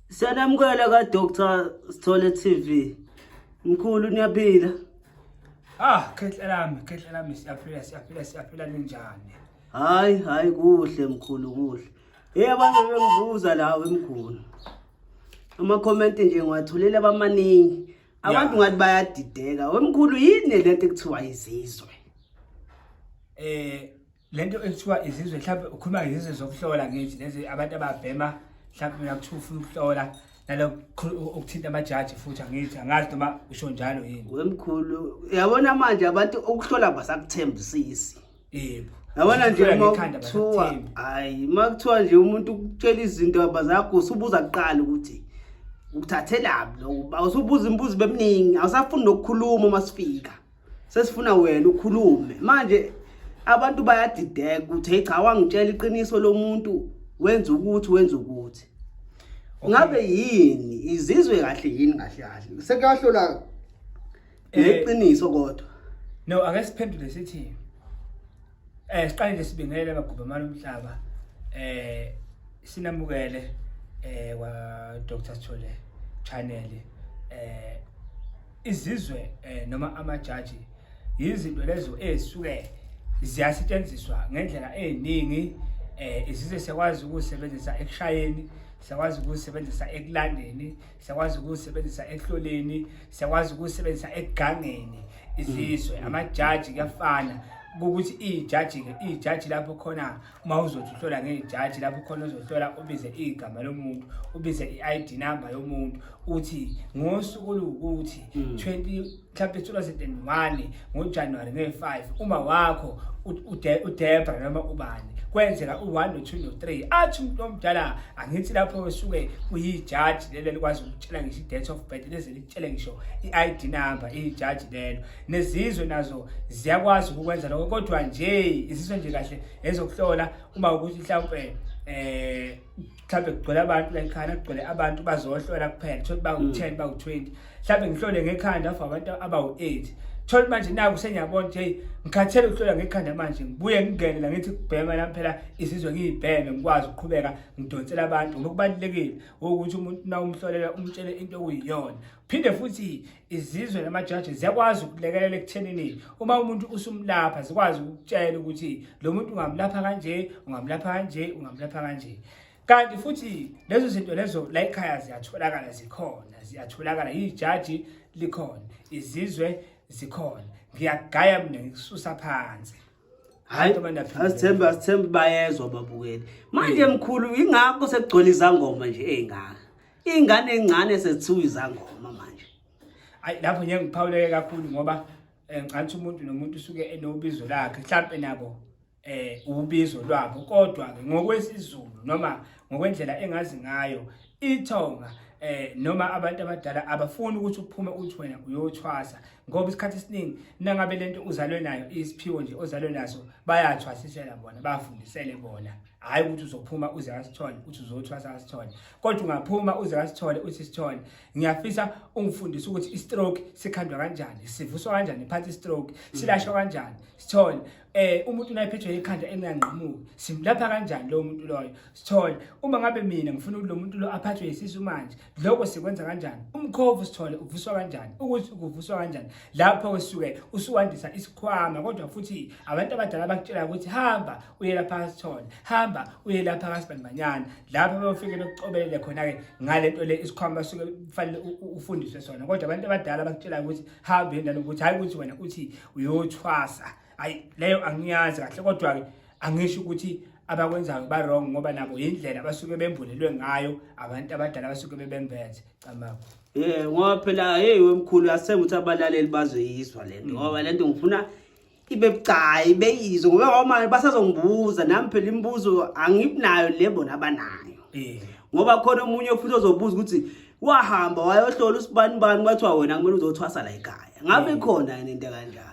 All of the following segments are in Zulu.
Siyanamukela ka Dr. Sithole TV. Mkhulu niyaphila? Ah, khehla lami, khehla lami siyaphila, siyaphila, siyaphila ninjani? Hayi, hayi kuhle mkhulu kuhle. Hey abantu bengibuza lawo emkhulu. Ama comment nje ngiwathulele abamaningi. Abantu ngathi bayadideka. Wemkhulu yini lento ekuthiwa izizwe? Eh le nto ekuthiwa izizwe mhlawumbe ukhuluma ngezizwe zokuhlola ngithi lezi abantu ababhema mhlawumbe mina kuthiwa ufuna ukuhlola nalo ukuthinta amajaji futhi angithi angazi noma usho njalo yini wemkhulu uyabona manje abantu ukuhlola basakuthembisisi yebo yabona nje uma kuthiwa hayi uma kuthiwa nje umuntu ukutshela izinto abazakho usubuza kuqala ukuthi ukuthathelaphi lo usubuza imibuzo beminingi awusafuni nokukhuluma uma sifika sesifuna wena ukhulume manje abantu bayadideka ukuthi hey cha wangitshela iqiniso lomuntu wenza ukuthi wenza ukuthi ngabe yini izizwe kahle yini kahle kahle sekuyahlola eh, iqiniso kodwa no ake siphendule sithi Eh siqale nje sibingelele abagubhamana umhlaba eh sinamukele eh wa Dr Sithole channel eh izizwe eh noma amajaji yizinto lezo ezisuke ziyasetshenziswa ngendlela eziningi eh izizwe siyakwazi ukusebenzisa ekushayeni siyakwazi ukusebenzisa ekulandeni siyakwazi ukuzisebenzisa ehloleni siyakwazi ukuzisebenzisa egangeni izizwe mm. amajaji kuyafana ukuthi ijaji-ke ijaji lapho khona uma uzothi uhlola ngejaji lapho khona uzohlola ubize igama lomuntu ubize i-id number yomuntu uthi ngosuku oluwukuthi 20 mm. mhlawumbe 2001 ngojanuwari nge-5 uma wakho udebra noma ubani kwenzeka u-one no-two no-three athi umuntu omdala angithi lapho wesuke kuyijaji lelo likwazi ukutshela ngisho i-date of birth leze likutshele ngisho i-i d number iyijaji lelo nezizwe nazo ziyakwazi ukukwenza lokho kodwa nje izizwe nje kahle ezokuhlola uma ukuthi mhlawumpe um eh, mhlawumbe kugcwele abantu la ekhaya kugcwele abantu bazohlola kuphela thola bawu-ten mm. bawu-twenty mhlawumbe ngihlole ngekhanda for abantu abawu-eight thola manje naku sengiyabona ukuthi heyi ngikhathele ukuhlola ngekhanda manje ngibuye ngingene la ngithi kubhema lami phela izizwe ngiyibheme ngikwazi ukuqhubeka ngidonsela abantu ngoba kubalulekile ukuthi umuntu na umhlolela umtshele into okuyiyona phinde futhi izizwe namajaji ziyakwazi ukulekelela ekuthenini uma umuntu usumlapha zikwazi ukutshela ukuthi lo muntu ungamlapha kanje ungamlapha kanje ungamlapha kanje kanti futhi lezo zinto lezo la ekhaya ziyatholakala zikhona ziyatholakala yijaji likhona izizwe zikhona ngiyagaya mina ngikususa phansi hayi asithembe asithembe bayezwa babukeli manje mkhulu ingakho sekugcwele izangoma nje ey'ngaka iy'ngane ey'ncane sezithiwa izangoma manje ayi lapho nje ngiphawuleke kakhulu ngoba um ngathi umuntu nomuntu usuke enobizo lakhe mhlawumpe nabo um ubizo lwabo kodwa-ke ngokwesizulu noma ngokwendlela engazi ngayo ithonga eh noma abantu abadala abafuni ukuthi uphume uthi wena uyothwasa ngoba isikhathi esiningi nangabe lento uzalwe nayo isiphiwo nje ozalwe naso bayathwasisela bona bafundisele bona hayi ukuthi uzophuma uze asithole uthi uzothwasa asithole kodwa ungaphuma uze asithole uthi sithole ngiyafisa ungifundise ukuthi i-stroke sikhandwa kanjani sivuswa kanjani phansi i-stroke silashwa kanjani sithole eh umuntu unayiphethwe ekhanda enganqamuki simlapha kanjani lo muntu loyo sithole uma ngabe mina ngifuna ukuthi lo muntu lo aphathwe isisu manje lokho sikwenza kanjani umkhovu sithole uvuswa kanjani ukuthi kuvuswa kanjani lapho usuke usuwandisa isikhwama kodwa futhi abantu abadala bakutshela ukuthi hamba uye lapha sithole hamba uye lapha kasibandanyana lapho beyofike bekucobelele khona ke ngalento le isikhwama suke kufanele ufundiswe sona kodwa abantu abadala bakutshela ukuthi hamba yendalo ukuthi hayi ukuthi wena uthi uyothwasa ayi leyo angiyazi kahle kodwa-ke angisho ukuthi abakwenzayo barong ngoba nabo yindlela abasuke bembulelwe ngayo abantu abadala abasuke bebembethe camaku ye ngoba phela heyi wemkhulu yasenga ukuthi abalaleli bazoyizwa le nto ngoba le nto ngifuna ibe bucayi beyizwe ngoba wamane basazongibuza nami phela imibuzo angibinayo le bona abanayo ngoba khona omunye futhi ozobuza ukuthi wahamba wayohlola usibani bani kwathiwa wena kumele uzothwasa la ekhaya ngabe mm. khona yini into kanjalo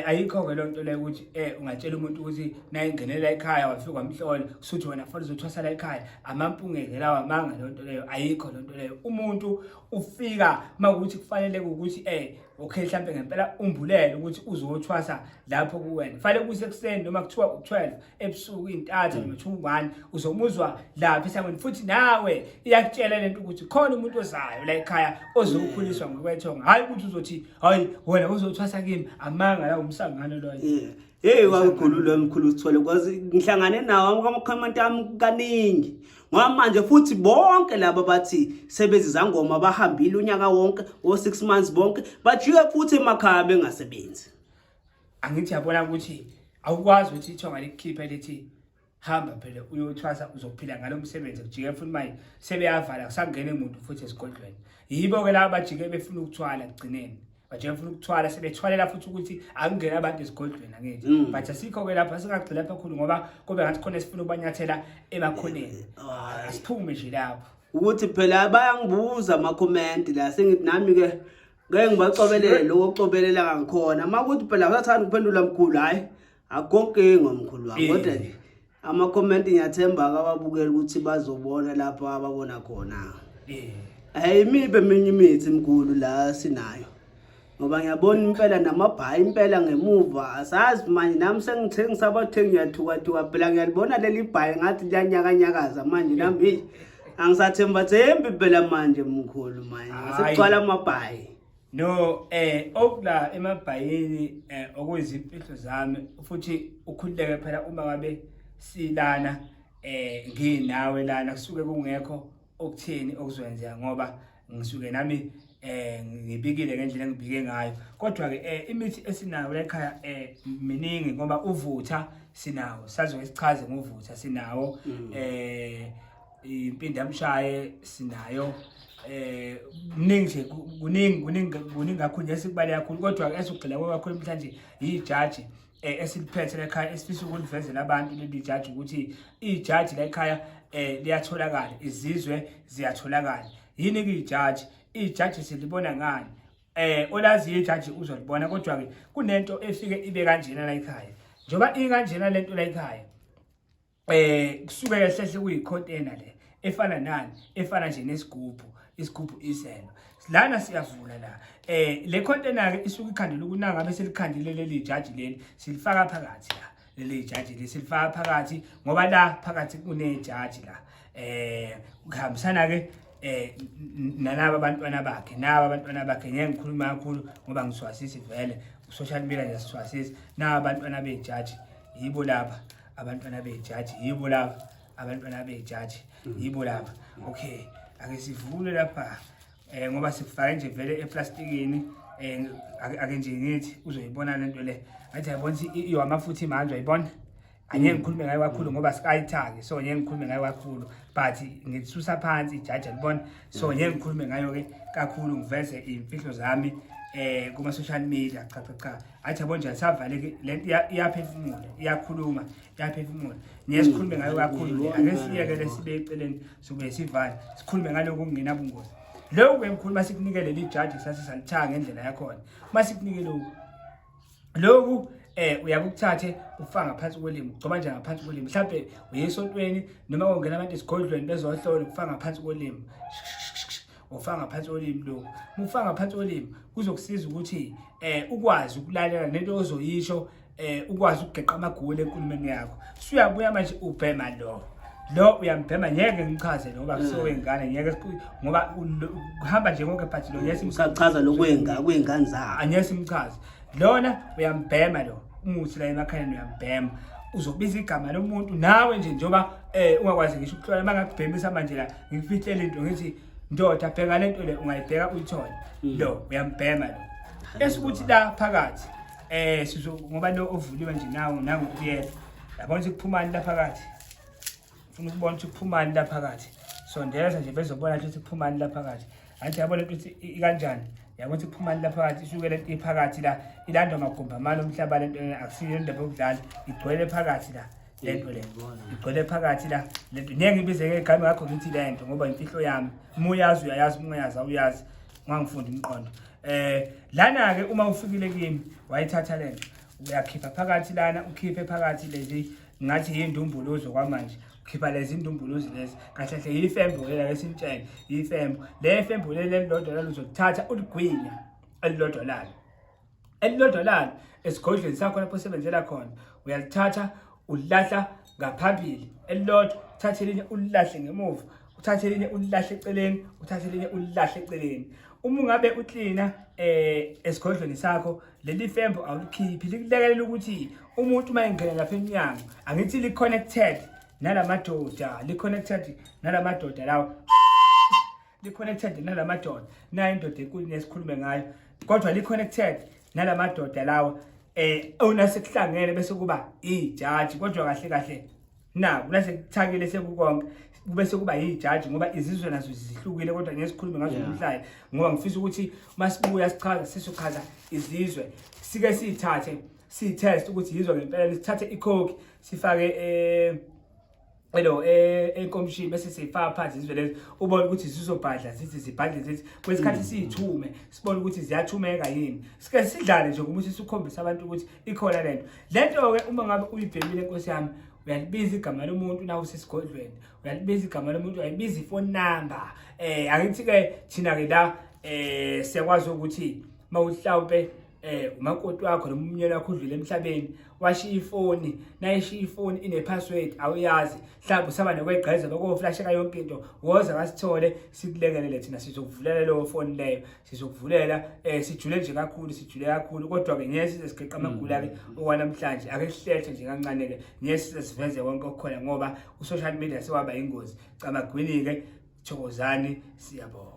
ayikho-ke loo nto leyo ukuthi um ungatshela umuntu ukuthi nayingenela ekhaya wafika wamhlola kusuthi wena fana uzothwasa la ekhaya amampungeke lawo amanga loo nto leyo ayikho loo nto leyo umuntu ufika uma kuthi kufanele ukuthi um okay mhlampe ngempela umbulele ukuthi uzothwasa lapho kuwena fanele kuse kuseni noma kuthiwa u12 ebusuku intatha mm. noma u1 uzomuzwa lapha isangweni futhi nawe iyakutshela lento ukuthi khona umuntu ozayo la ekhaya ozokukhuliswa mm. ngokwethonga hayi ukuthi uzothi hayi wena uzothwasa kimi amanga la umsangano loyo Hey wawukhulu lo mkhulu sithole kwazi ngihlangane nawo amakhomenti ami kaningi ngoba manje futhi bonke laba bathi sebezi zangoma bahambile unyaka wonke o 6 months bonke bajike futhi emakhaya bengasebenzi angithi yabona ukuthi awukwazi ukuthi ithonga likhiphe lithi hamba phela uyothwasa uzophila ngalo msebenzi kujike futhi manje sebeyavala kusangene muntu futhi esigodlweni yibo ke laba bajike befuna ukuthwala kugcineni bajike funa ukuthwala sebethwalela futhi ukuthi akungena abantu esigodlweni angithi mm. but asikho ke lapha singagcina lapha khulu ngoba kube ngathi khona esifuna ukubanyathela emakhoneni asiphume nje lapho ukuthi phela bayangibuza ama comment la sengithi nami ke ngeke ngibacobelele lokho cobelela ngakhona makuthi phela usathanda ukuphendula mkhulu hayi akho nkinga mkhulu wami Eh. kodwa nje ama-comment ngiyathemba akababukeli ukuthi bazobona lapho ababona khona Eh. ayimibi eminye imithi mkhulu la sinayo ngoba ngiyabona impela namabhayi impela ngemuva asazi manje nami sengithengi sabathengi ngiyathukathuka phela ngiyalibona leli bhayi ngathi liyanyakanyakaza manje nami eyi, angisathembathembi phela manje mkhulu manje Hhayi. sekugcwala amabhayi No eh okula emabhayini eh okuyizimfihlo zami futhi ukhululeke phela uma ngabe silana eh nginawe lana kusuke kungekho okutheni okuzwenzeka ngoba ngisuke nami eh ngibikile ngendlela engibike ngayo kodwa ke eh imithi esinayo la ekhaya eh miningi ngoba uvutha sinawo sazoke sichaze nguvutha sinawo mm. eh impindi yamshaye sinayo eh kuningi nje kuningi kuningi kuningi kakhulu nje sikubale kakhulu kodwa esugxila kwakho namhlanje yijaji eh, esiliphethe lekhaya esifisa ukulivezela abantu leli jaji ukuthi ijaji lekhaya eh liyatholakala izizwe ziyatholakala yini ke ijaji ijaji silibona ngani eh olaziyo ijaji uzolibona kodwa ke kunento efike ibe kanjena la ekhaya njoba ikanjena lento la ekhaya eh kusuke ehlehle kuyicontainer le efana nani efana nje nesigubhu isigubhu iseno lana siyavula la eh le container ke isuke ikhandile ukunanga bese likhandile leli jaji leli silifaka phakathi la leli jaji leli silifaka phakathi ngoba la phakathi kune jaji la eh kuhambisana ke eh nalabo abantwana bakhe nabo abantwana bakhe ngeke ngikhuluma kakhulu ngoba ngiswasisi vele social media nje siswasisi nabo abantwana bejaji yibo laba abantwana bejaji yibo laba abantwana bejaji mm. yibo laba okay ake sivule lapha eh ngoba sifake nje vele eplastikini eh ake nje ngithi uzoyibona lento le athi yabona ihamba futhi manje uyibona angeke mm. ngikhulume ngayo kakhulu mm. ngoba sikayithaki so ngeke ngikhulume ngayo kakhulu but ngisusa phansi ijaji libona so mm. ngeke ngikhulume ngayo ke kakhulu ngiveze imfihlo zami eh kuma social media cha cha cha athi yabo nje savaleke le nto iya- iyaphefumula iyakhuluma iyaphefumula niye sikhulume ngayo kakhulu le ake siyeke le sibe eceleni sokuye sivale sikhulume ngalokhu okungenabungozi lokhu emkhulu uma sikunikele lijaji sase salithanga ngendlela yakhona uma sikunikele lokhu lokhu eh uyakuthathe ufaka ngaphansi kwelimi ugcoba nje ngaphansi kwelimi mhlawumbe uye esontweni noma kungena abantu esigodlweni bezohlola ufaka ngaphansi kwelimi ngokufaka ngaphansi kolimi lokhu mufaka ngaphansi kolimi kuzokusiza ukuthi eh ukwazi ukulalela nento ozoyisho eh ukwazi ukugeqa amagoli enkulumeni yakho suyabuya manje ubhema lo lo uyambhema ngeke ngichaze ngoba kusowengane mm. ngeke ngoba kuhamba nje konke but lo ngeke simchaza lokwenga kwengane zakhe angeke simchaze lona uyambhema lo umuthi la emakhaleni uyambhema uzobiza igama lomuntu nawe nje njengoba eh ungakwazi ngisho ukuhlola mangakubhemisa manje la ngikufihlele into ngithi ndoda bheka le nto le ungayibheka uyithole mm. lo uyambhema lo esikuthi la phakathi eh sizo ngoba lo ovuliwe nje nawo nangu kuyena yabona ukuthi kuphumani la phakathi ufuna ukubona ukuthi kuphumani la phakathi sondeza nje bezobona ukuthi kuphumani la phakathi anti yabona ukuthi ikanjani yabona ukuthi kuphumani la phakathi isuke le nto iphakathi la ilandwa magumba amane umhlaba le nto akusiyo indaba yokudlala igcwele phakathi la lento le igcwele phakathi la lento ngeke ngibize ngegame ngakho ngithi lento ngoba imfihlo yami uma uyazi uyayazi uma uyazi awuyazi ngangifundi umqondo eh lana ke uma ufikile kimi wayithatha lento uyakhipha phakathi lana ukhiphe phakathi lezi ngathi yindumbuluzo kwamanje ukhipha lezi ndumbuluzi lezi kahle kahle yifembo lela lesintshele yifembo le fembo leli elilodwa lalo uzolithatha uligwinya elilodwa lalo elilodolana esigodlweni sakho lapho osebenzela khona uyalithatha ulilahla ngaphambili elilodwa uthathe elinye ulilahle ngemuva uthathe elinye ulilahle eceleni uthathe elinye ulilahle eceleni uma ungabe uklina eh esigodlweni sakho leli fembo awulikhiphi likulekelela ukuthi umuntu uma engena lapha emnyango angithi li connected nalamadoda li connected nalamadoda lawo Li-connected nala madoda. Nayo indoda enkulu nesikhulume ngayo. Kodwa li-connected nala madoda lawa eh ona sekuhlangene bese kuba ijaji kodwa kahle kahle na kulase kuthakile sekukonke kube sekuba yijaji ngoba izizwe nazo zihlukile kodwa ngeke sikhulume ngazo namhlanje ngoba ngifisa ukuthi masibuya sichaza sisuchaza izizwe sike sithathe si test ukuthi yizwa ngempela sithathe ikhokhi sifake eh elo eh, enkomishini bese sifaka phansi izizwe lezi ubona ukuthi zizobhadla zithi zibhadle zithi kwesikhathi mm. siyithume sibone ukuthi ziyathumeka yini sike sidlale nje ukuthi sikhombise abantu ukuthi ikhona lento lento-ke uma ngabe uyibhemile nkosi yami uyalibiza igama lomuntu nawe usesigodlweni uyalibiza igama lomuntu uyayibiza ifoni number um eh, angithi-ke thina-ke la um siyakwazi ukuthi uma uhlawumpe um umakoti wakho noma umnyeni wakho udlule emhlabeni washiya ifoni nayishiya ifoni ine-password awuyazi mhlawumbe usaba nokwegqeza lokoflasheka yonke into woza kasithole sikulekelele thina sizokuvulela leyo foni leyo sizokuvulela um eh, sijule nje kakhulu sijule kakhulu kodwa-ke ngeke size sigeqa amagula-ke mm. okwanamhlanje ake sihlehlo nje kancane-ke ngeke size siveze konke okukhona ngoba u-social media sewaba yingozi cabagwini-ke thokozani siyabonga